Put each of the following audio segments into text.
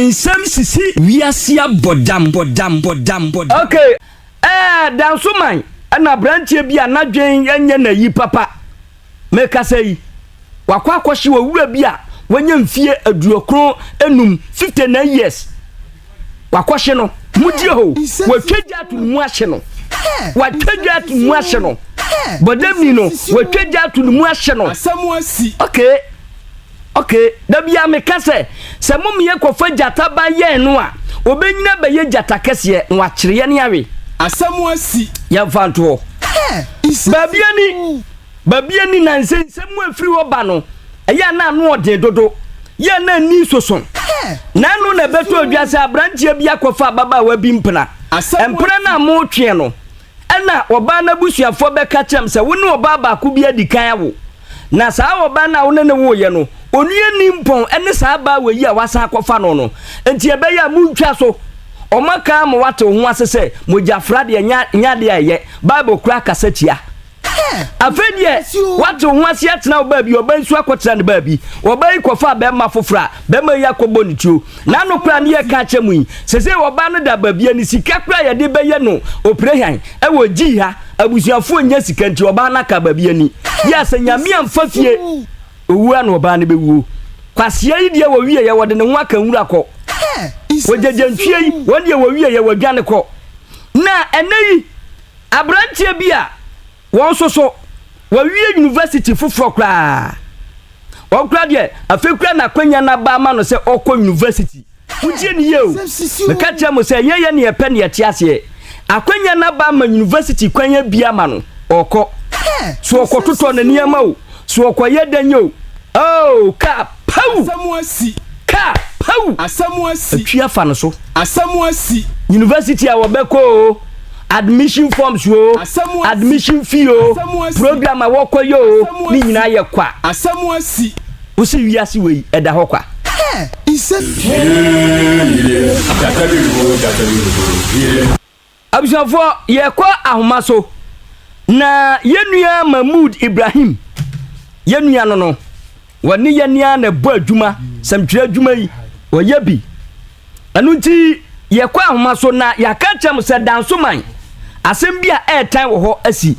nsɛm sisi wiase abɔdam bɔdam bɔdam bɔdam. ok ɛɛ dansoman ɛna aberanteɛ bi a n'adwen ɛnyɛ n'ayi papa mekasa yi. wakɔ akɔhye owura bi a wanya mfie aduokron enum, fifty nine years. Wakɔhye no, motie ho, watwa gya ato ne mu ahye no. Watwa gya ato ne mu ahye no. Bɔdamni no, watwa gya ato ne mu ahye no. Asɛm asi. Okay. Okay. Da bi a meka sɛ, sɛ mo mmea kɔfa gyata ba yɛn no a, obenyina bɛyɛ gyata kɛseɛ na wakyere yɛn awe. Asɛm asi. Yɛmfa nto hɔ. Baabi ani. Baabi ani na nsɛnsɛm mu afiri hɔ ba no, ɛyɛ a na ano yɛ den dodo, yɛ a na ani soso. Na ɛno na ɛbɛtɔ adwa sɛ aberanteɛ bi akɔfa ababaawa bi mpena. Mpena no a moretweɛn no, ɛna ɔbaa no abusuafoɔ bɛka kyerɛɛ me sɛ wo ne ɔbaa baako bi adi kan awo. Na saa ɔbaa no a wo ne no woeɛ no, onua nni mpɔn ne saa abaawa yi a woasan akɔfa no no. Enti ɛbɛyɛ a montwa so. Wɔaka ama woate wo ho ase sɛ mogyafra deɛ nyɛ adeɛ a ɛyɛ. Bible koraa kasa tia. Afei deɛ wate wo ho ase atena wo baabi ɔba nso akɔtena ne baabi ɔba yi kɔfa bɛrima foforɔ a bɛrima yi akɔbɔ ne tuo n'ano koraa ne yɛka akyɛ mu yi sɛ sɛ ɔba no da baabia ne sika koraa yɛde bɛyɛ no oprehan ɛwɔ gyii ha abusuafoɔ nyɛ sika nti ɔbaa no aka baabi ani yɛ sɛ nyame amfa fie owuo ano ɔbaa no bɛwuo kwaseɛ yi deɛ wɔwieɛ wɔde ne ho aka nwura kɔ wɔgyagya ntwie yi wɔn deɛ wɔwieɛ wɔdwane kɔ na ɛnɛ yi Aberanteɛ bi a wɔn nso so wawie yunivasiti foforɔ koraa, ɔno koraa deɛ afei koraa na akwanya no aba ama no sɛ ɔrekɔ yunivasiti. Motie no yie o, meka kyerɛ mo sɛ ɛnyɛ yɛn na yɛpɛ na yɛte aseɛ. Akwanya no aba ama yunivasiti kwan abue ama no, ɔrekɔ. So ɔkɔtotɔ ne nneɛma o, so ɔkɔyɛ dɛn o, oh, kap! Pawu! Asɛm asi! Kaa! Pawu! Asɛm asi! Atwi afa no so! Asɛm asi! University a wɔbɛkɔ o, admission forms o, admission fee o, program a wɔkɔyɛ o, ne nyinaa yɛ kwa. Asɛm asi! Wosi wiase wei ɛda hɔ kwa. Hɛɛ! Isɛ. Yee! Yee! Gyata bi reboro, gyata bi reboro, yee! Abusuafoɔ, yɛrekɔ ahoma so, na yɛn nua Mahmood Ibrahim, yɛn nua no no, wɔne yɛn ni ara na ɛbɔ adwuma, sɛmtwerɛ adwuma yi, wɔyɛ bi. Ɛno nti, yɛrekɔ ahoma so na yɛaka akyerɛ mo sɛ Dansoman, asɛm bi a ɛretan wɔ hɔ asi.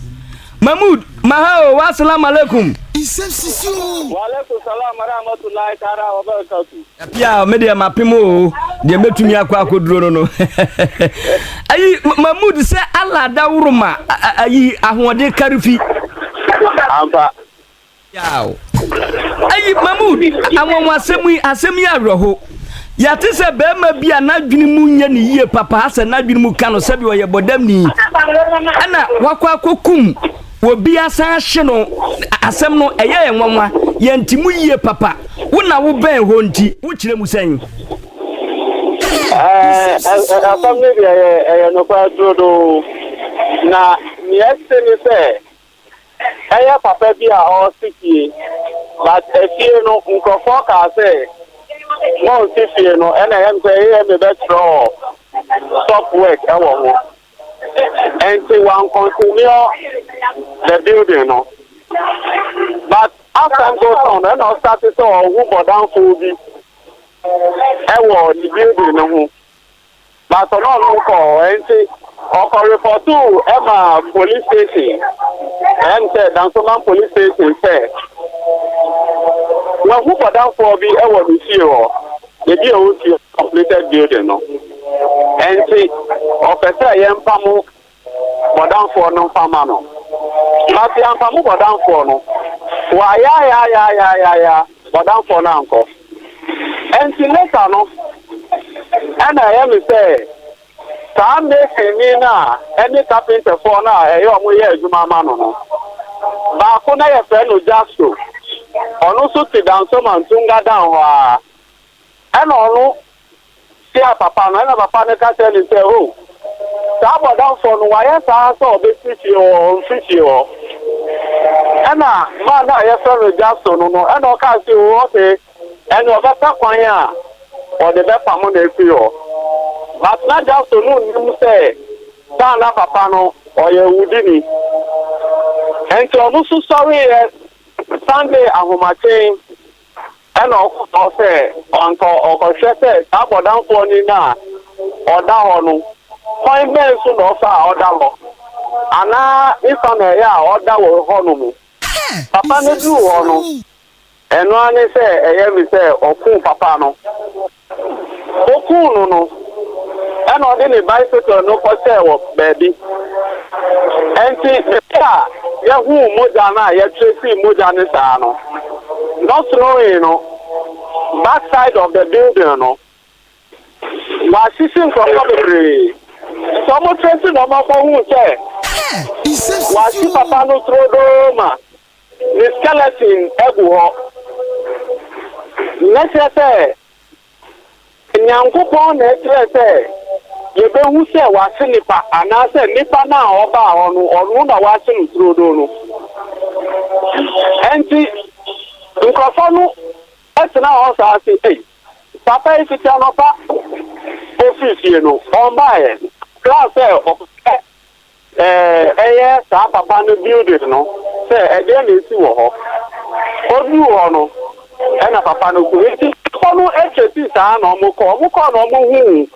Mahmood, ma ha o, wa salam alaikum. Nsɛm sisi o. Wa alaikum salam wa rahmatullahi taala wa barakatuh. Apia me deɛ mapem o deɛ mɛtumi akɔ akɔduro no no ayi ma mood sɛ ala daworo ma ayi ahoɔden kare fi ampa yaw ayi ma mood anwanwa asɛm yi asɛm yi awerɛho yɛate sɛ bɛrima bi a n'adwene mu nyɛ ne yie papa asɛ n'adwene mu ka no sɛdeɛ ɔyɛ bɔdamni ɛna wakɔ akɔkum Obi asan ahye no. Asɛm no, ɛyɛ yɛn nwanwa. Yɛnte mu yiye papa. Wo na wobɛn hɔ nti, wokyerɛ mu sɛn? Ɛɛ, asɛm no deɛ ɛyɛ ɛyɛ nokware turodoo. Na nea ɛte ne sɛ, ɛyɛ papa bi a ɔresi fie. But efie no, nkurɔfoɔ kaa sɛ, Monnsi fie no. Ɛnna ɛyɛ me sɛ, eia mebɛtwerɛ stop work wɔ ho. Enti wan continue the building no but as time goes on no ɛna ɔstarte sɛ ɔhu bɔdanfoɔ bi ɛwɔ ne building no ho but ɔne ɔno nkɔ hɔ enti ɔkɔ repɔtoo ɛma police station ɛyɛ ne sɛ Dansoman police station sɛ wahu bɔdanfoɔ bi ɛwɔ ne fie hɔ, baabi a ɔwɔ fie. completed building no ɛnti ɔpɛ sɛ yɛn mpa mo bɔdanfoɔ no mfa ma no but yɛn mpa mo bɔdanfoɔ no wɔayaayaayaayaaya bɔdanfoɔ no ankɔ ɛnti later no ɛna ɛyɛ me sɛ saa mason ni no a ɛne carpenterfoɔ no a ɛyɛ ɔmo yɛ adwuma ama no no baako na yɛfrɛ no Jasto ɔno nso te Dansoman Tunga dan hɔ a Ɛna ɔno hyiaa papa no, ɛna papa no ka kyerɛɛ no sɛ, O, saa bɔdamfoɔ no, wayɛ saa sɛ ɔbɛsi fie hɔ, ɔmfiri fie hɔ. Ɛna man no a yɛfrɛ no Jason no no, ɛna ɔkaa sɛ, O, ok, ɛnneɛ ɔbɛpɛ kwan a ɔde bɛpamo no afiri hɔ. But na Jason no nnim sɛ saa na papa no ɔyɛ awudini. Ɛnti ɔno nso sɔreeɛ Sunday ahomakye. Ɛnna ɔka kyerɛɛ no sɛ, Anka ɔkɔhwɛ sɛ saa bɔdamfoɔ no na ɔda hɔ no, kwan bɛn so na ɔfa a ɔda hɔ? Anaa ne fa na ɛyɛ a ɔda wɔ hɔ no mu? Papa no duu hɔ no, ɛno ara ne sɛ ɛyɛ me sɛ ɔkuu papa no. Okum no no, ɛnna ɔde ne bicycle no kɔhyɛɛ wɔ baabi. Enti bere a yɛhuu mogya no a yɛtresee mogya no saa no, no snoree no backside of the building no, wɔahyehye nkurɔfo bebree. Sɛ wɔtrese na wɔkɔhuu sɛ wɔahye papa no turodoo ma ne skeleton agu hɔ. Mɛkyerɛ sɛ Nyankopɔn na ɛkyerɛ sɛ yɛbɛhu sɛ wahye nipa anaasɛ nipa no a ɔbaa hɔ no ɔno na wahye no turodoo no. Ɛnti nkorɔfoɔ no tena hɔ saa se ei papa yi fiti anɔpa ɔfiri fie no ɔmbaeɛ. Kraa sɛ ɔpɛ Ɛyɛ saa papa no building no sɛ ɛdeɛn na ɛsi wɔ hɔ. Ɔduruu hɔ no ɛna papa no ku. Nti nnipa no chasii saa na wɔn kɔ. Wɔn kɔɔ na wɔn huu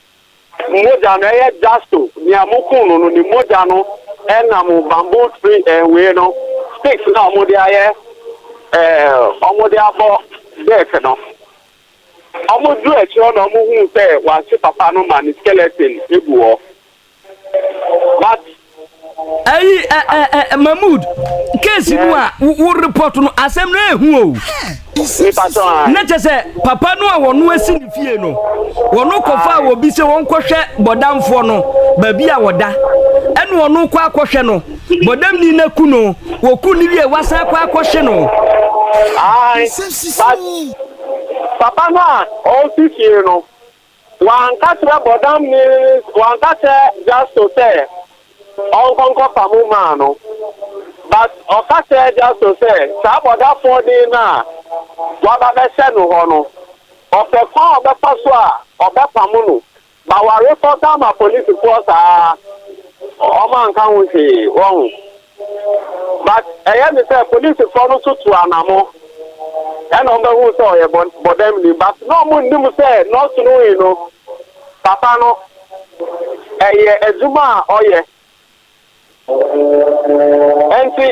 mogya no ɛyɛ Jasto nea moku no no ne mogya no ɛnam bamboo tree ɛɛ wei no sticks no a wɔn de ayɛ ɛɛ wɔn de abɔ deck no. Wɔn duruu akyire hɔ na wɔn huu sɛ wɔahye papa no ma ne skeleton egu hɔ. But ayi ɛ ɛ ɛ Mahmood case no a wo report no asɛm no ehu o. Na kyɛ sɛ papa no a wɔn asi ne fie no wɔn kɔfa a wɔbi sɛ wɔn kɔhwɛ bɔdamfoɔ no baabi a wɔda ɛna wɔn kɔ akɔhwɛ no bɔdamni no aku no wɔku no wie wasan kɔ akɔhye no. Ayi papa no a ɔsi fie no. Wɔanka kyerɛ Bɔdam Mills, wɔanka kyerɛ Justo sɛ ɔnkɔ nkɔfa mo maa no, but ɔka kyerɛɛ Justo sɛ saa bɔdafoɔ den no a waba bɛhyɛ no hɔ no, ɔpɛ kwan a ɔbɛfa so a ɔbɛpamo no, but wɔareport ama polisifoɔ saa ara, wɔanka ho hwee, wahu. But ɛyɛ ne sɛ polisifɔ no so tu anamo ɛna ɔmo bɛhu sɛ ɔyɛ bɔ bɔdɛm ni but na ɔmo nnim sɛ nɔs no yi no papa no ɛyɛ adwuma a ɔyɛ ɛnti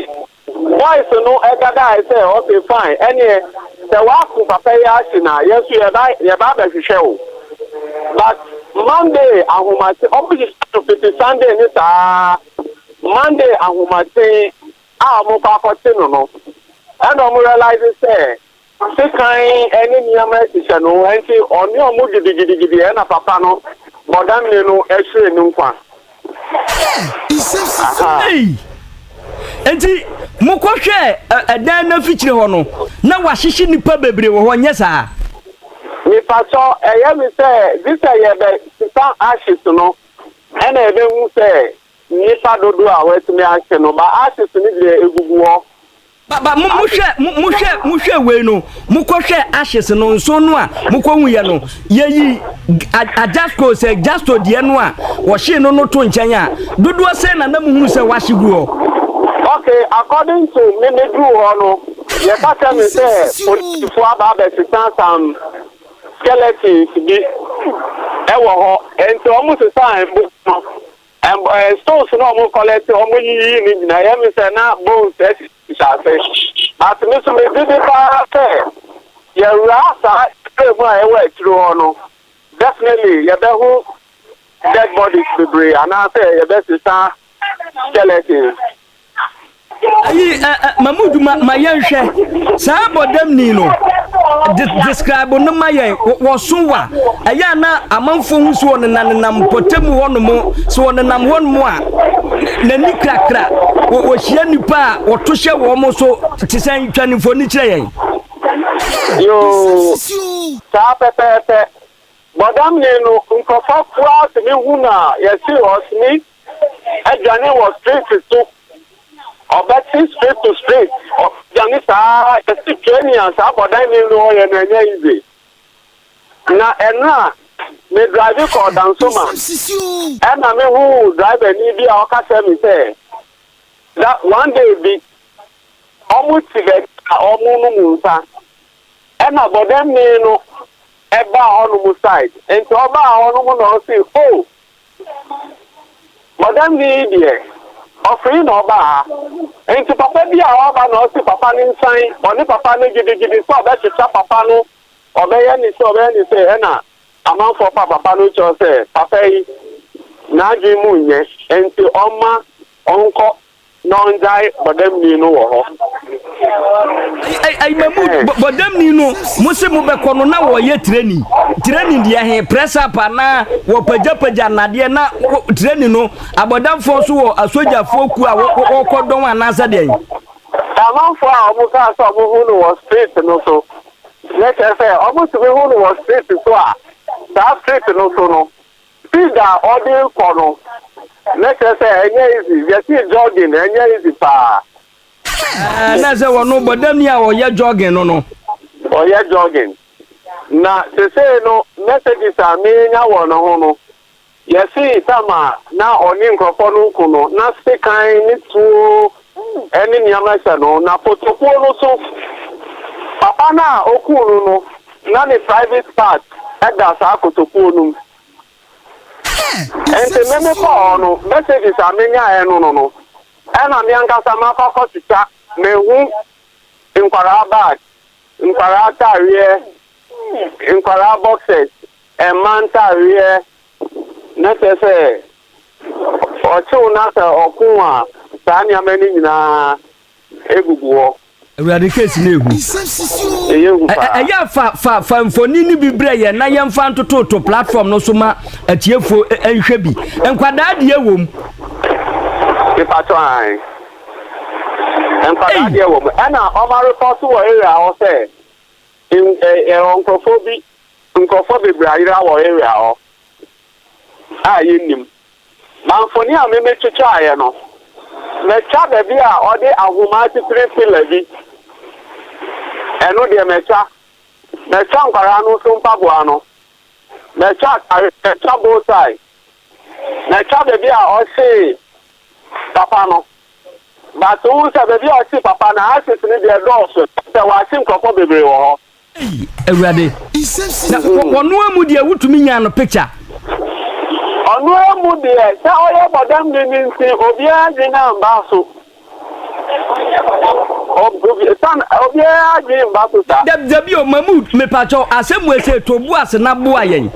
bɔys no ɛdadaɛ sɛ ɔse fine ɛneɛ sɛ waako papa yi akye no a yɛnso yɛba yɛba abɛhwehwɛ wo but Monday ahomakye ɔmo hyehyɛ no fiti Sunday ne saa Monday ahomaten a wɔkɔ akɔte no no ɛna wɔn realise sɛ sekan ne nneɛma ahyehyɛ no nti ɔne wɔn gidigidigidi ɛna papa no bɔ damene no ɛhwere ne nkwa. Hwɛ nsɛmsi so. Ei! Enti mokɔ hwɛɛ ɛ dan no afikyire hɔ no na wahyehye nnipa bebree wɔ hɔ nyɛ saa? Mepatɔ ɛyɛ me sɛ gye sɛ yɛbɛ sesa ashes no ɛna yɛbɛ hu sɛ Nnipa dodoɔ a wɔatumi ahye no, ba ashes no deɛ ɛgugu hɔ. Ba, ba, mo, mo hwɛ, mo, mo hwɛ, mo hwɛ wei no, mo kɔ hwɛ ashes no, nso no a mo kɔ hu yɛ no, yɛ yi Ajasco sɛ Jasto deɛ no a wɔhyee no no to nkyɛn a, dodoɔ sɛn na na mo hunu sɛ wɔahye gu hɔ? Okay, according to me, me duru hɔ no, yɛka kyerɛ me sɛ polisifoɔ aba abɛsesa some. skeletons bi wɔ hɔ nti wɔn sesaa mbo no ɛm ɛɛ stones na wɔn kɔlɛte wɔn yiyi ne nyinaa yɛ mi sɛ na bones ɛsisi ase but mi so mi gye di paa sɛ yɛwura saa area mu a ɛwɔ akyire hɔ no definitely yɛbɛho dead bodies bebree anaasɛ yɛbɛsesa skeletons. Ayi ɛ ɛ ma mu dwuma ma yɛn hwɛ saa bɔdamni no de describe no ma yɛn wɔso wa ɛyɛ a na amanfoɔ ho so ɔnenam nenam mpɔtamu hɔ nom so ɔnenam hɔ nom a n'ani krakra wɔhyia nipa a wɔto hyɛ wɔn so te sɛ twa ne mfoni kyerɛ yɛn. Yoo saa pɛpɛɛpɛ bɔdamni no nkurɔfoɔ koraa tumi hu no a yɛse ɔsmith. adwane wɔ street so ɔbɛte street to street ɔdwane saa yɛsi twɛni a saa bɔdan ni no ɔyɛ na ɛnyɛ easy na ɛnra me drive kɔ dansoma ɛna me hu driver ni bi a ɔka kyerɛ me sɛ that one day bi ɔmo ti bɛ a ɔmo no mu nsa ɛna bɔdan ni no ɛbaa hɔ no mu side nti ɔbaa hɔ no mu na ɔsi oh Madam no yi deɛ ɔfee na ɔba ha nti papa bi a ɔba na ɔsi papa no nsan ɔne papa no gyidigyidi sɛ ɔbɛkyekyɛ papa no ɔbɛyɛ ne sɛ ɔbɛyɛ ne sɛ ɛna amanfoɔ pa papa no kyɛw sɛ papa yi n'adwene mu nyɛ nti ɔmma ɔnkɔ Na ɔngyae bɔdamni no wɔ hɔ. Ɛ ɛyi mɛ mu bɔ bɔdamni no mo se mo bɛkɔ no na wɔyɛ tireni tireni deɛ he press up anaa wɔpagyapagya nnadeɛ na wo tireni no abɔdamfoɔ nso wɔ asogyafoɔ kuo a wɔ wɔkɔ dɔn anaasɛ deɛn. Na amanfoɔ a wɔn kaa sɛ wɔn hu no wɔ street no so na kyerɛ sɛ wɔn tumi hu no wɔ street so a saa street no so no Speed a ɔde rekɔ no na kyerɛ sɛ ɛnyɛ easy, yɛse jogging ɛnyɛ easy paa. Ɛɛ na sɛ wɔn no bɔdamni a ɔyɛ jogging no no. Ɔyɛ jogging. Na sesei no messages a menya wɔ ne ho no, yɛse time a na ɔne nkurɔfoɔ no reko no, na sekan ne tuo ne nea mɛhyɛ no, na kotokuo no so papa no a ɔkuu no no, na ne private part da saa kotokuo no mu. Enti me mekɔɔ hɔ no, messages a menyaeɛ no no no, ɛna me ankasa makɔ akɔtwitwa, mahu nkwadaa bag, nkwadaa atadeɛ, nkwadaa boxers, mmaa ntadeɛ, Na kyerɛ sɛ, ɔkyew na sɛ ɔko a, saa nneɛma no nyinaa gugu hɔ. Awurade case no yɛ hu. Ɛyɛ hu paa. Ɛyɛ a fa fa fa mfoni no bi brɛ yɛn na yɛmfa ntototo platform no so ma atiefoɔ nhwɛ bi. Nkwadaa deɛ wɔ mu? Mepakyɛw ae. Nkwadaa deɛ wɔ mu. Ɛna wɔareporto wɔ area hɔ sɛ nkurɔfoɔ bi Nkorɔfoɔ bebree ayera wɔ area hɔ a yɛnnim. Na mfoni a me me twitwaaeɛ no, matwa baabi a ɔde ahoma atitire pillar bi, ɛno deɛ matwa. Matwa nkwadaa no nso mpaboa no, matwa ataareɛ, matwa bow tie, matwa baabi a ɔhyee papa no. But wohu sɛ baabi a ɔhyee papa no, ashes no deɛ ɛdɔɔso, kyerɛ sɛ wɔahye nkorɔfoɔ bebree wɔ hɔ. Ei awurade na wɔnoa mu deɛ wotumi nyaa no picture. Ɔnoa mu deɛ sɛ ɔyɛ bɔdam de ne nti obiara adwene amba so san obiara adwene mba so sa. Da dabi o Mahmood mepakyɛw asɛm wei sɛ to bo ase na boa yɛn.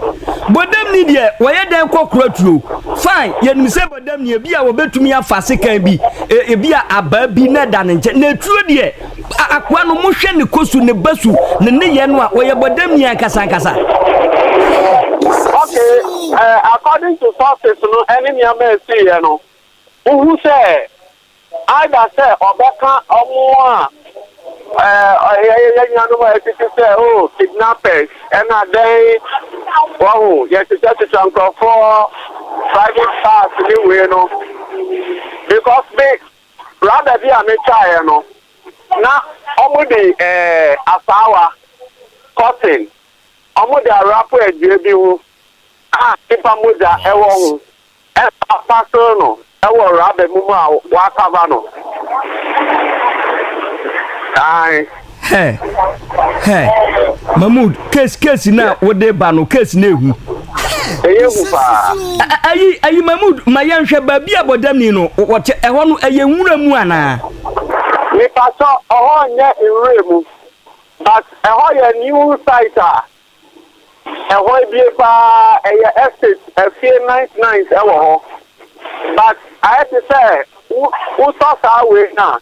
Bɔdam ni deɛ wɔyɛ dɛn kɔ kora turo? Fine yɛnim sɛ bɔdam ni ebi a wɔbɛtumi afa sekan bi ebi a abaa bi na ɛda ne nkyɛn na turo deɛ A Akoa no, mohwɛ ne kɔ su, ne ba su, ne nneyɛɛ no a, ɔyɛ bɔdamni ankasa ankasa. Okay, eh, according to sources no ɛne nneɛma a ɛsiiɛ no, wohu sɛ either sɛ ɔbɛka ɔmo a eh, yɛyɛ yɛ nuanom a ɛtete sɛ o oh, kidnappers ɛna dɛn wahu yɛtetwatwetwa nkurɔfoɔ private parts ne wei no because me Brada bi a metwaeɛ no, na wɔde eh, asaawa, cotton, wɔde awrapo adua bi ho a nipa mogya wɔ ho ɛna wɔapasere no wɔ raba mu mu a wɔakava no. Ae. Hɛ hɛ Mahmood case case na wode ba no case na ehu. Ɛyɛ hu paa. Ayi ayi Mahmood ma yɛnhwɛ baabi a bɔdamni no wɔte ɛhɔ no ɛyɛ nwura mu anaa? Mepatɔ ɔhɔ nyɛ nwura mu but ɛhɔ yɛ new site a ɛhɔ ebie paa ɛyɛ estate afie nice nice ɛwɔ hɔ but ayɛ te sɛ wotɔ saa wei no a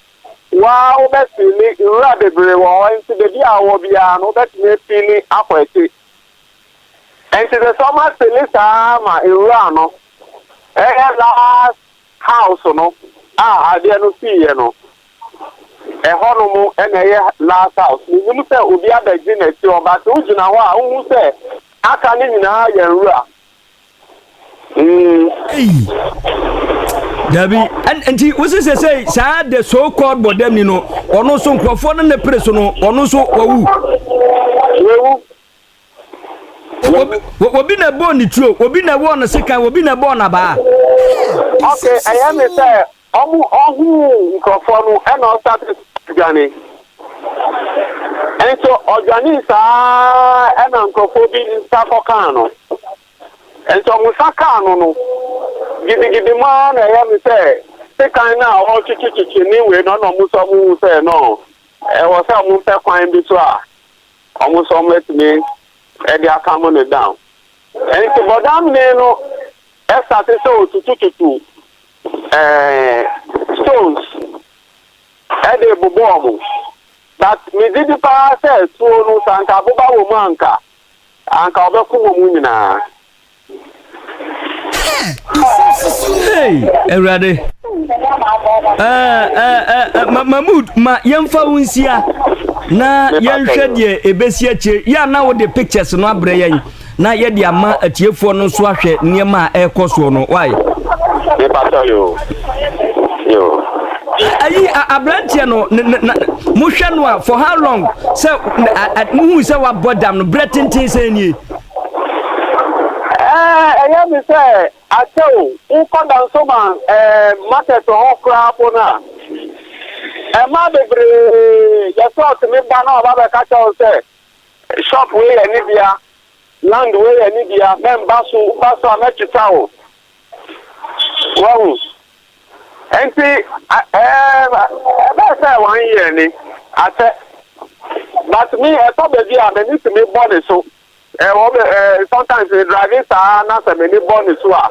Wo ara wobɛfiili nwura bebree wɔ hɔ, enti baabi a wowɔ biara no, wobɛtumi afiili akɔ akyi. Enti ɛsɛ sɛ wɔafiili saa ara ma nwura no yɛ last house no a adeɛ no siiɛ no. Ɛhɔnom na ɛyɛ last house. Mennim sɛ obi abɛgye n'akyi hɔ, but wogyina hɔ a, wohu sɛ aka no nyinaa yɛ nwura. Eii dabi nti wosi sesei saa the so called bɔdɛmni no ɔno nso nkurɔfoɔ no ne pere so no ɔno nso wawu obi na ɛbɔɔ ne tuo obi na ɛwɔɔ no sekan obi na ɛbɔɔ n'abaa. ɔkè ɛyɛ ne sɛ Ɔmo ohuu nkorɔfoɔ no ɛna ɔstate dwane nso ɔdwanee saa ara ɛna nkorɔfoɔ bi nsa kɔ kaa no nso ɔmo nsa kaa no no gidigidi mu ara na ɛyɛ no sɛ sekan no a ɔretwetwetwe ne wei no ɛna ɔmo nso ɔmo hu sɛ no ɛwɔ sɛ ɔmo pɛ kwan bi so a ɔmo nso ɔmo atumi ɛde akamo no down nti bɔdamnee no ɛstate sɛ ɔtutututu Ɛɛn stones ɛde bobɔɔ mo but me gye di paa sɛ tuo no sɛ anka aboba wɔ mu a anka anka ɔbɛko wɔ mu nyinaa. Hey awurade ɛɛ ɛɛ ma ma mood ma yɛnfa wo nsia na yɛnhwɛ deɛ ebesi akyire yɛ a na wode pictures no abrɛ yɛn. na yɛde ama atiefoɔ no nso ahwɛ nneɛma a ɛrekɔ soɔ no wae. mepatɔ yo yo. ayi aberanteɛ no mohwɛ no a for how long sɛ muhu sɛ wabɔ dam no berɛ tenten sɛ nie. ɛyɛ me sɛ akyɛ o wokɔ dansoma market hɔ koraa po no a ɛma bebree yɛsɛ ɔtumi ba na ɔba bɛka kyɛ wo sɛ Shop wei yɛ ne dea, land wei yɛ ne dea, mɛmba so, woba so a mɛtwetwa wo. Wahu? Nti ɛbɛyɛ sɛ one year ni, asɛ. But me ɛtɔ baabi a m'ani tumi bɔ ne so, sometimes me drive saa na sɛ m'ani bɔ ne so a,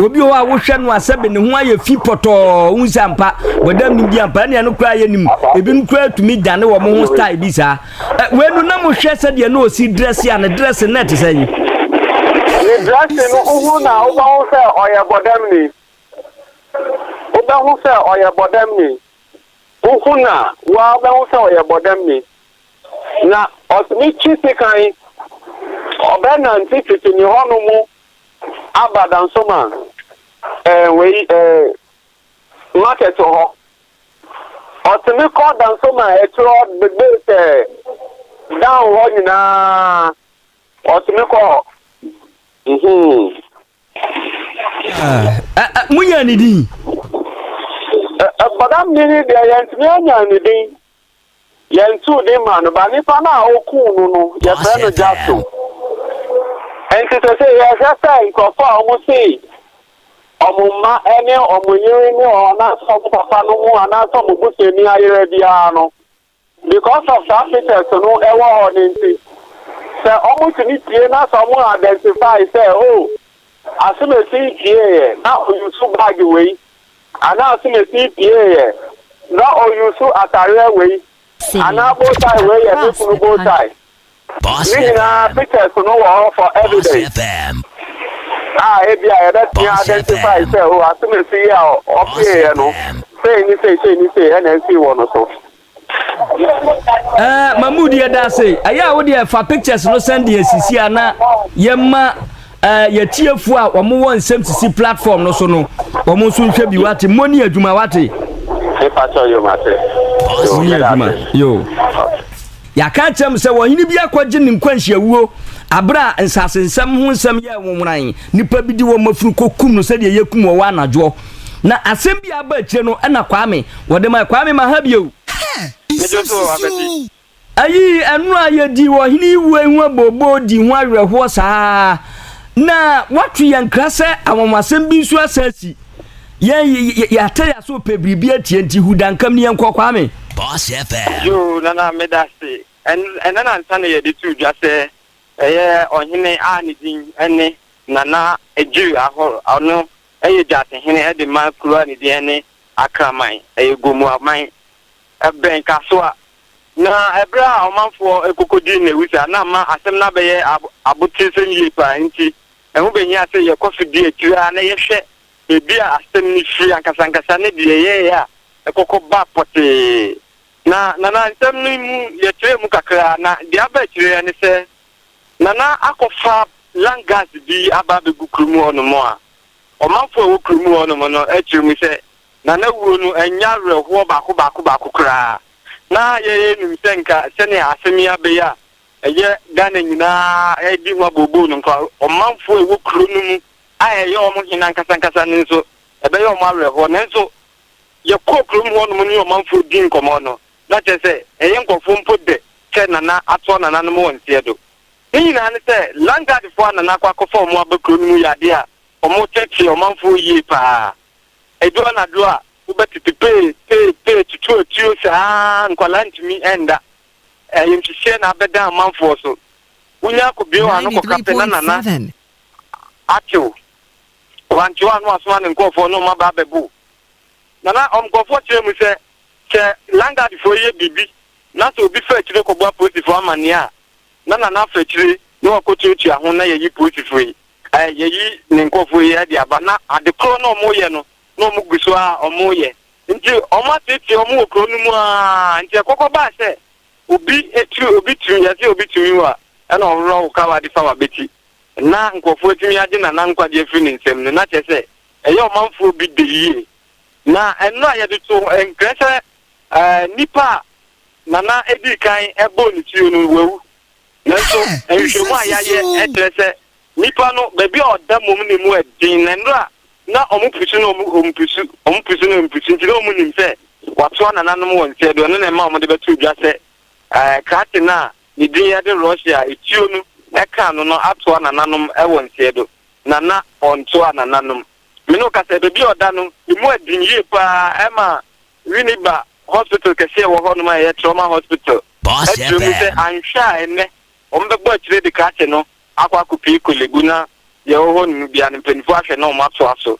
Obi wɔ hɔ a wohwɛ no a sɛbe ne ho ayɛ fi pɔtɔɔ, wohu sɛ ampa, bɔdam nim bi ampa, ɛnea no koraa yɛ nim. Ebinom koraa tumi dane wɔn ho style bi saa. Ɛ, wei no na mohwɛ sɛdeɛ na ɔsi drɛse a, ne drɛse na ɛte sɛn? Ne drɛse no, wohu no a, wobɛhu sɛ ɔyɛ bɔdamni. Wobɛhu sɛ ɔyɛ bɔdamni. Wohu no a, wo ara wobɛhu sɛ ɔyɛ bɔdamni. Na ɔtumi twe sekan, ɔbɛnante tete ne hɔnom aba Dansoman ɛɛ eh, wei ɛɛ eh, market hɔ. Ɔtumi kɔ Dansoman ɛkyerɛ eh, bebe sɛ down hɔ nyinaa ɔtumi kɔ hɔ. Mhm. Ah, mo yɛ ne din? Bɔda mmiri deɛ yɛntumi anya ne din. Yɛntoo din maa no, but nipa no a okuu no no, yɛfrɛ no Jasso. Enti sese yɛhwɛ sɛ nkurɔfo a wɔse wɔn mma ne wɔn yere ne wɔn anaasɛ wɔn papa no ho anaasɛ wɔn busuani ayera biara no, because of saa pictures no ɛwɔ hɔ no nti, sɛ wɔtumi tie na sɛ wɔn identify sɛ oh, Asomasi pieeɛ na ɔuse bag wei, Anaa so na sii piee yɛ? Na o use atareɛ wei anaa bow tie wei yɛ me kunu bow tie? Ne nyinaa pictures no wɔ hɔ for evidence a ebia yɛbɛtumi identify sɛ o asomasi yi a ɔpiee yɛ no sei ne sei sei ne sei ɛna ɛsii wɔ no so. ɛɛ mamu deɛ da ase ɛyɛ a wodeɛ fa pictures no sɛn deɛ sisi a na yɛma ɛɛ yɛtiefoɔ a wɔn wɔ nsɛm sisi platform no so no wɔn nso nhwɛ bi wate mmɔ ni adwuma wate. nipa kyɛw yom ase. wɔn ni adwuma yoo. yɛaka kyerɛ m sɛ wɔhene bi akɔgye ne nkwanhyiawuo aberɛ a nsase nsɛm ho nsɛm yɛ nwonworan nnipa bi de wɔn afunu kɔkum no sɛdeɛ yɛkum wɔ wɔ anadwoɔ Na asɛm bi a aba akyire no na Kwame wɔde mae. Kwame ma ha bio. Medwo so abati. Ayii ɛno a yɛdi ɔhene yi wuo yi ho abooboo di ho awerɛhoɔ saa ara na wɔato yɛn nkra sɛ anwanwasɛm bi nso asan asi. Yɛn y- y- yɛate yɛ aso pɛ biribi atie nti hu dankam ne yɛnkɔ Kwame. Boss FM. Yoo nana meda ase. Ɛn ɛnɛ na nsa na yɛde tuu dwa sɛ ɛyɛ ɔhene a ne din ne Nana Adwiri Ahor ɔno yɛ Gyasi hene de ma kuro a ne din ne Akraman, ɛyɛ Gomoaman, ɛbɛn Kasoa. Na ɛberɛ a ɔmanfoɔ rekɔkɔdi nnawusi a na ama asɛm no abɛyɛ aboteresɛm yie pa ara nti, ɛho bɛhia sɛ yɛkɔ so di akyire ara na yɛhwɛ baabi a asɛm no firi ankasankasa ne deɛ ɛyɛeɛ a ɛkɔkɔ ba pɔtee. Na Nana, nsɛm no mu, yɛkyerɛɛ mu kakra, na deɛ aba akyire ne sɛ Nana akɔfa lung gas bi aba abegu kurom hɔnom a, ɔmanfo a ɛwɔ kurom hɔnom no kyerɛ mu sɛ, Nana wuo no ɛnyɛ awerɛhoɔ baako baako baako koraa. Na yɛyɛ nim sɛ nka sɛnea asɛm yi abɛyɛ a ɛyɛ Ghana nyinaa redi ho abooboo no nka ɔmanfo a ɛwɔ kuro no mu a ɛyɛ wɔn hene ankasa ankasa no nso ɛbɛyɛ wɔn awerɛhoɔ. Nanso yɛkɔɔ kurom hɔnom ne ɔmanfoɔ dii nkɔmmɔ no, na kyerɛ sɛ ɛyɛ nkorɔfo mpo dɛ sɛ Nana atɔ nananom wɔ nseɛ do. Ne nyinaa ne sɛ Landguardfoɔ a Nana akɔ akɔfa wɔn aba kuro no mu yɛ adeɛ a wɔteetee ɔmanfoɔ yie pa ara. Ɛdu anadwo a, wobɛtete pee pee pee tutu atuo saa ara nkwadaa ntumi nda. Ayamhyehyeɛ na abɛda ɔmanfoɔ so. Wonya kɔbue wɔn ano kɔka pɛ na Nana atew. Wantew a na wasoma ne nkorɔfoɔ ne wɔn aba abɛbow Nana. Wɔn nkorɔfoɔ kyerɛ mu sɛ Sɛ landadfoɔ yɛ biribi na sɛ obi fa akyire kɔbɔ apolisifoɔ amanneɛ a, na Nana afa akyire na wakɔtuatua ho na yɛayi polisifoɔ yi, ɛɛ, yɛayi ne nkurɔfoɔ yi de aba. Na ade korɔ na wɔreyɛ no, na wɔgu so ara reyɛ. Nti wɔateetee wɔn wɔ kuro no mu ara. Nti ɛkɔkɔ baa sɛ obi tiri, obi tiri, yɛse obi tumi wo a, ɛna ɔworɔ wo kawa de fa w'abati. Na nkurɔfoɔ atumi agye Nana nkwagyeɛ afiri ne nsam no, na kyerɛ sɛ ɛyɛ ɔmanfoɔ bi dɛ yie. Na ɛno a yɛde to hɔ nkyerɛ sɛ nipa a na na edi kan bɔɔ ne tiri no, wawu. Nanso nhwehwɛmu a yɛayɛ kyerɛ sɛ nipa no, baabi a ɔda mmom na emu yɛ den, na nnuru a na wɔpusu no wɔpusu, wɔpusu no wɔpusu nti, na wɔnim sɛ watoa nananom wɔ nsɛe do. Ɛno na ɛma wɔde bɛtoo dwa sɛ krate no a ne din yɛ de Russia a etuo no ka ano no atoa nananom wɔ nsɛe do, na na ɔntoaa nananom. Me ne wo kasa, baabi a ɔda no, emu aden yie paa, ɛma Winneba Hospital kɛseɛ a ɛwɔ hɔnom a ɛyɛ Trauma Hospital Boss akyerɛ mu sɛ FM. anhwɛ a ɛnnɛ wɔbɛbɔ akyire de krakye no akɔ akɔpue Korle-Bu na deɛ ɛwɔ hɔnom biara no mpanimfoɔ ahwɛ na wɔatoa so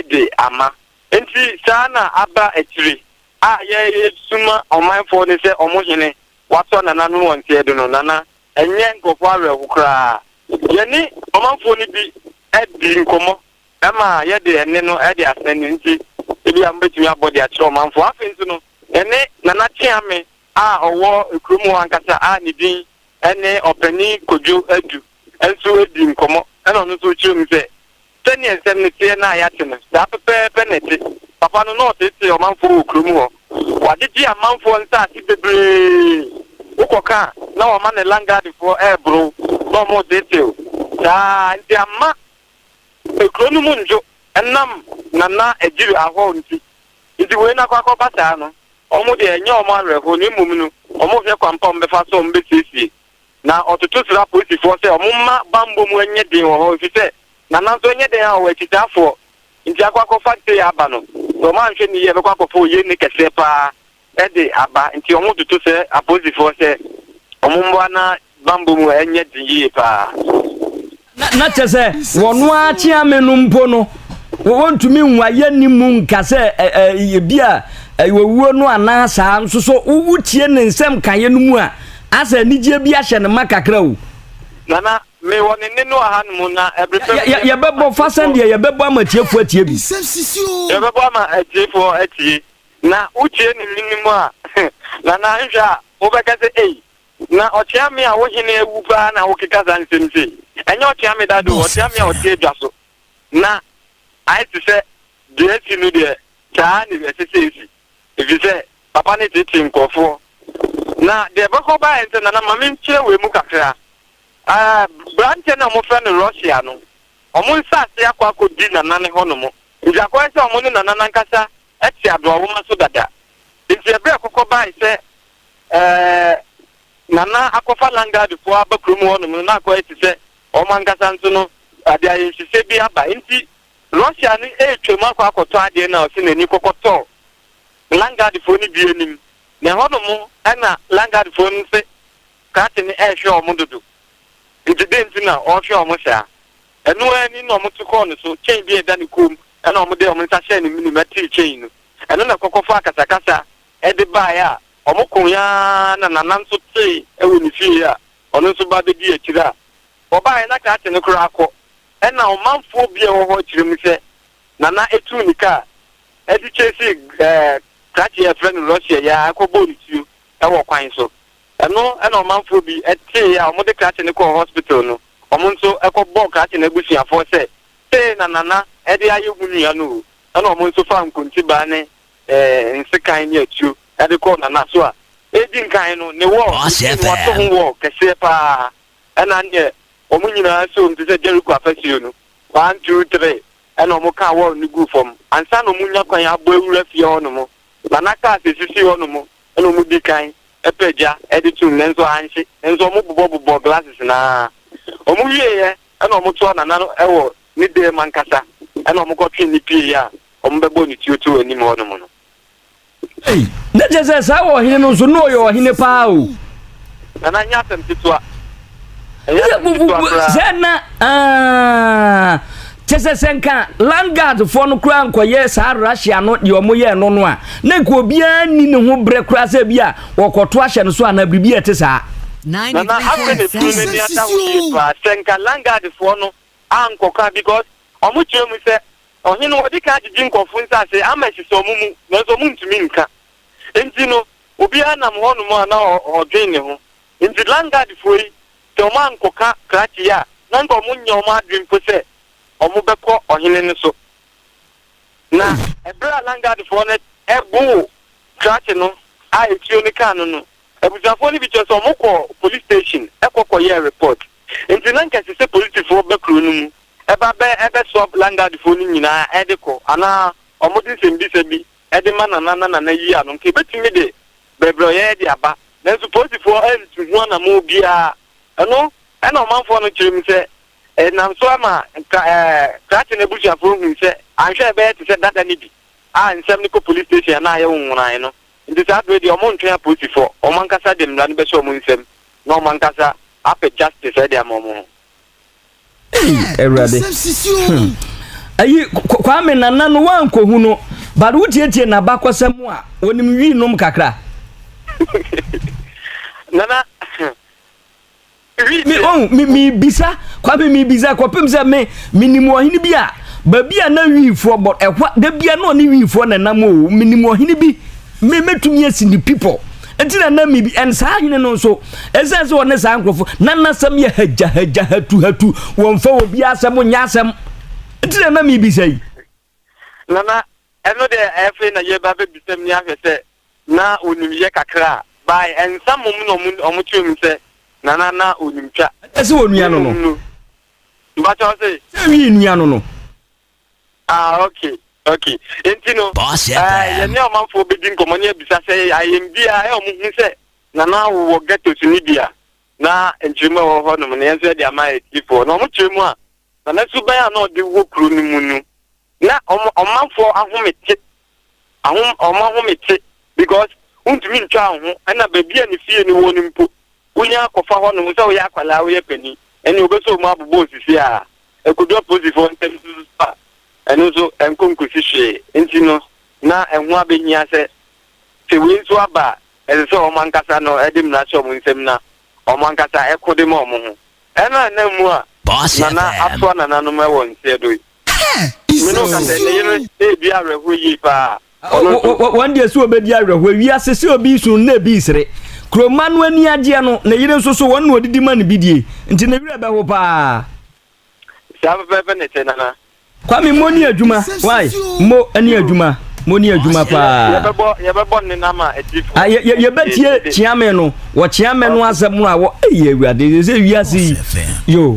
de ama. Enti saa na aba akyire a yɛresoma ɔmanfoɔ no sɛ wɔn hene, wɔasɔ Nana no wɔn nteɛdo no, Nana ɛnyɛ nkurɔfoɔ awerɛho koraa. Yɛne ɔmanfoɔ no bi dii nkɔmmɔ ma yɛde ɛnne no de asɛn no nti, ebia mobɛtumi abɔ de akyerɛ ɔmanfoɔ. Afei nso no, yɛne Nana Kyeame a ɔwɔ kurom hɔ ankasa a ne din ne Ɔpanin Kojo Adu nso dii nkɔmmɔ, ɛna ɔno nso kyerɛɛ mu sɛ Sɛdeɛ nsɛm no teɛ no a yɛate no, saa pɛpɛɛpɛ na ɛte. Papa no, na ɔteetee ɔmanfoɔ wɔ kurom hɔ. Wagyegye amanfoɔ nsaase bebree. Wokɔka a, na wɔma ne langadefoɔ reboro na wɔreteetew. Saa ara nti, amma ekuro no mu nnwo ɛnam Nana Agyiri Ahow nti. Nti wei no akɔ akɔba saa no, wɔn deɛ ɛnyɛ wɔn awerɛhoɔ na mmom no, wɔrehwɛ kwan pa a wɔbɛfa so a wɔbɛsiesie Na ɔtoto sraa polisifoɔ sɛ wɔmma bammɔ mu nyɛ den wɔ hɔ efisɛ Nana nso nyɛ dɛn ara ɔwɔ akyitaafoɔ nti akɔ akɔfa Ntee aba no. Sɛ wɔanhwɛ no yie a ɛbɛkɔ akɔfa oyenni kɛseɛ pa ara de aba nti wɔtoto srɛ apolisifoɔ sɛ wɔmmoa na bammɔ mu nyɛ den yie pa ara. Na kyɛ sɛ wɔn ara kyeame no mpo no, wɔntumi nhu ayɛ ne mu nka sɛ ebi a owuo no anaa saa nso so wotie ne nsɛm kaeɛ no mu a asɛ anigyeɛ bi ahyɛ ne ma kakra o. Nana, me wɔ ne nne no wɔ ha no mu na ɛbere pɛ mu. Yɛbɛbɔ fa sɛdeɛ yɛbɛbɔ ama atiefoɔ atie bi. Yɛbɛbɔ ama atiefoɔ atie. Na wotie ne nne no mu a, Nana nhwɛ a wobɛka sɛ ei. Na ɔkyea me a wo hene awu paa na wokeka saa nsɛm sei. Ɛnyɛ ɔkyea me dada o, ɔkyea me a ɔte adwa so na ayɛ te sɛ deɛ asi no deɛ, saa ara na ɛsɛ sɛ ɛsi, ɛfiri sɛ papa no teetee nkurɔfoɔ. Na deɛ ɛbɛkɔ baeɛ nso, Nana ma menkyerɛ wei mu kakra. Ɛɛ, aberanteɛ no a wɔfrɛ no Russia no, wɔn nsase akɔ akɔdi Nana no hɔnom. Enti akɔyɛ sɛ wɔn ne Nana no ankasa te adoawoma so dada. Enti ɛberɛ a kɔkɔ baae sɛ Nana akɔfa Langadefoɔ aba kurom hɔ nom no, na akɔyɛ te sɛ wɔn ankasa nso no ade ayɛnhyesɛ bi aba. Enti Russia no retwam akɔ akɔtɔ adeɛ no a ɔse n'ani kɔkɔtɔɔ Langadefoɔ no bi anim. Na ɛhɔ nom na Langadefoɔ no se Krate no rehwɛ wɔn dodo. Enti dɛn nti na ɔrehwɛ wɔn saa? Ɛno ara ni na wɔto kɔɔ ne so, kyɛn bi a ɛda ne kɔn mu ɛna wɔn de wɔn nsa hyɛɛ ne menem tee kyɛn no, ɛno na kɔkɔ faa kasakasa de baeɛ a wɔn koe ara na Nana nso tee wɔ ne fie a ɔno nso ba bɛdii akyire a wɔbaeɛ na krakye no koraa kɔ, ɛna ɔmanfoɔ bi a ɛwɔ hɔ kyerɛ mu sɛ Nana tuu ne kaa de chasee krakye a yɛfrɛ no Russia yi ara kɔ bɔɔ no tuo wɔ kwan so, ɛno na ɔmanfoɔ bi tee a wɔn de krakye no kɔɔ hospital no, wɔn nso kɔ bɔɔ krakye no abusuafoɔ sɛ Sei na Nana de ayɛ ho nnua no o, ɛna wɔn nso faa nkontibaa ne nsekan ne atuo de kɔɔ Nana so a edi nkan no ne wɔɔ ɔsii no wɔato ho wɔɔ kɛseɛ pa ara, ɛna neɛ wɔn nyinaa soom te sɛ Jeriko afasuo no, one, two, three, ɛna wɔn kaa wɔɔ no guu fam ansa na wɔn nya kwan abɔ awura fie hɔ nom, Nana kaa sɛ sisi hɔ nom na wɔn di kan pɛ gya de tom nanso anhye, nanso wɔn bobɔ bobɔɔ glasses no ara, wɔn wieeɛ Ɛna wɔtoaa Nana no wɔ ne dan mu ankasa, ɛna wɔkɔtwee no pieeɛ a wɔbɛbɔɔ no tuo too anim hɔ nom no. Ei! Na kyerɛ sɛ saa ɔhene no nso, na ɔyɛ ɔhene paa o. Nana nyɛ asɛm ketewa. Ɛnyɛ asɛm ketewa koraa. Sɛ na, aah, kyerɛ sɛ sɛ nka land guard foɔ no koraa nkɔyɛ saa Russia no deɛ wɔyɛɛ no no a, na nka obiara nni ne ho berɛ koraa sɛ bi a Wɔkɔto ahyɛ no so anaa biribi a ɛte saa. Nana afei na funu n'ani ada ho yie paa sɛ nka landguard foɔ no ankɔka because ɔmo kyerɛ mu sɛ ɔhene wɔdi kan agyegye nkɔfo nsaase ama asisa ɔmo mu nanso ɔmo ntumi nka nti no obiara nam hɔ nom a na ɔdwen ne ho nti landguard foɔ yi sɛ ɔmo ankɔka krakye yi a na nka ɔmo nyɛ ɔmo adwen mpo sɛ ɔmo bɛkɔ ɔhene no so Na bere a landguardfoɔ no boo krakye no a etuo no kaa no no, abusuafoɔ no bi kyerɛ sɛ wɔkɔɔ police station kɔ kɔyɛɛ report. Enti na nka ɛsɛ sɛ polisifoɔ ba kuro no mu ba bɛ bɛ swap landguardfoɔ no nyinaa de kɔ anaa wɔde nsɛmmisa bi de ma Nana na Nana yi ano. Nka ebetumi de brɛbrɛwyɛɛ de aba. Nanso polisifoɔ antu ho anammɔn biara. Ɛno na ɔmanfoɔ no kyerɛ mu sɛ Ɛnam so ma Kra ɛɛ Kraten abusuafoɔ hui sɛ anhwɛ a ɛbɛyɛ te sɛ dada no bi a nsɛm no kɔ polis station anaa ayɛ nwonwonae no. Nti saa berɛ deɛ wɔntwɛn apolisifoɔ, wɔn ankasa de mmara no bɛhyɛ wɔn nsam na wɔn ankasa apɛ justice de ama wɔn ho. Ei Awurade hmm. Ayi Kwame Nana no woankɔhu no but wotietie n'abakɔsɛm a wɔnim wii nom kakra. Nana Me, oh, me, me bisa, Kwame, me bisa, kɔpem sɛ me, me nim ɔhene bi a, baabi a na wiifoɔ bɔ, ɛhɔ, da bia na ɔne wiifoɔ na nam o, me nim ɔhene bi, me, mɛtumi asi ne pipɔ. Nti na na me bi, ɛn saa hene no nso, ɛsɛ sɛ ɔne saa nkurɔfo, na nasɛm yɛ hagya, hagya, hatu, hatu, wɔmfa obi asɛm nyɛ asɛm. Nti na na me bisa yi. Nana, Ɛno deɛ ɛfei na yɛreba abɛbisam ni ahwɛ sɛ na ɔnim yɛ kakra a, by nsa mmom na wɔkyerɛ mu sɛ Nana na ɔnim twa. Ɛkyɛ sɛ ɔnua no no. Mpakyɛ ɔse. Sɛ ɛnwi nnua no no. Ah ok ok nti no eh, yɛne ɔmanfoɔ bɛdi nkɔmmɔ ne abisa sɛ ayɛm bi a ɛwɔ mo hu sɛ Nana wowɔ ghettos ni bi a. na nkyeremu a ɛwɔ hɔnom no, yɛn nso yɛde ama atiefo. Na wɔkyerɛ mu a, na ne suban a na ɔde wɔ kurow no mu no, na wɔn ɔmanfo ahome te, ahom, wɔn ahome te, because wontumi ntwaa wo ho, ɛna baabi a ne fie no wɔ no mpo, wonya akɔfa hɔnom sɛ woyɛ akwadaa, woyɛ panin, ɛne wɔbɛsɔ wɔn abobɔ osisi a ɛkodu apolisifoɔ nsam nso so a, ɛno nso ɛnkɔ nkosi hwee. Nti no, na ɛho abehia sɛ sɛ wei nso aba a, Ɛsɛ sɛ wɔn ankasa no de mmara hyɛ wɔn nsam na wɔn ankasa ko de ma wɔn ho. Ɛno a na mmu a Nana asoa nananom wɔ nseɛ do yi. Me ne wo ka sɛ ne yere redi awerɛhoɔ yie paa. Ɔno nso. Wɔn deɛ sɛ wɔbɛdi awerɛhoɔ. Wiase sɛ obi resu no na ebi resere. Kuro mma no ani agyeɛ no, ne yere nso so wɔn na wɔdidi ma no bidie. Nti ne werɛ bɛho paa. Saa fɛfɛɛfɛ na ɛte nana. Kwame mo ni adwuma why mo ni adwuma mo ni adwuma paa. Yɛbɛbɔ yɛbɛbɔ ne nam a akyirifo. Ah, yɛ- yɛ- yɛbɛtie kyeame no wɔkyeame no asɛm no a wɔ ɛyɛ awurade sɛ wiase yi yo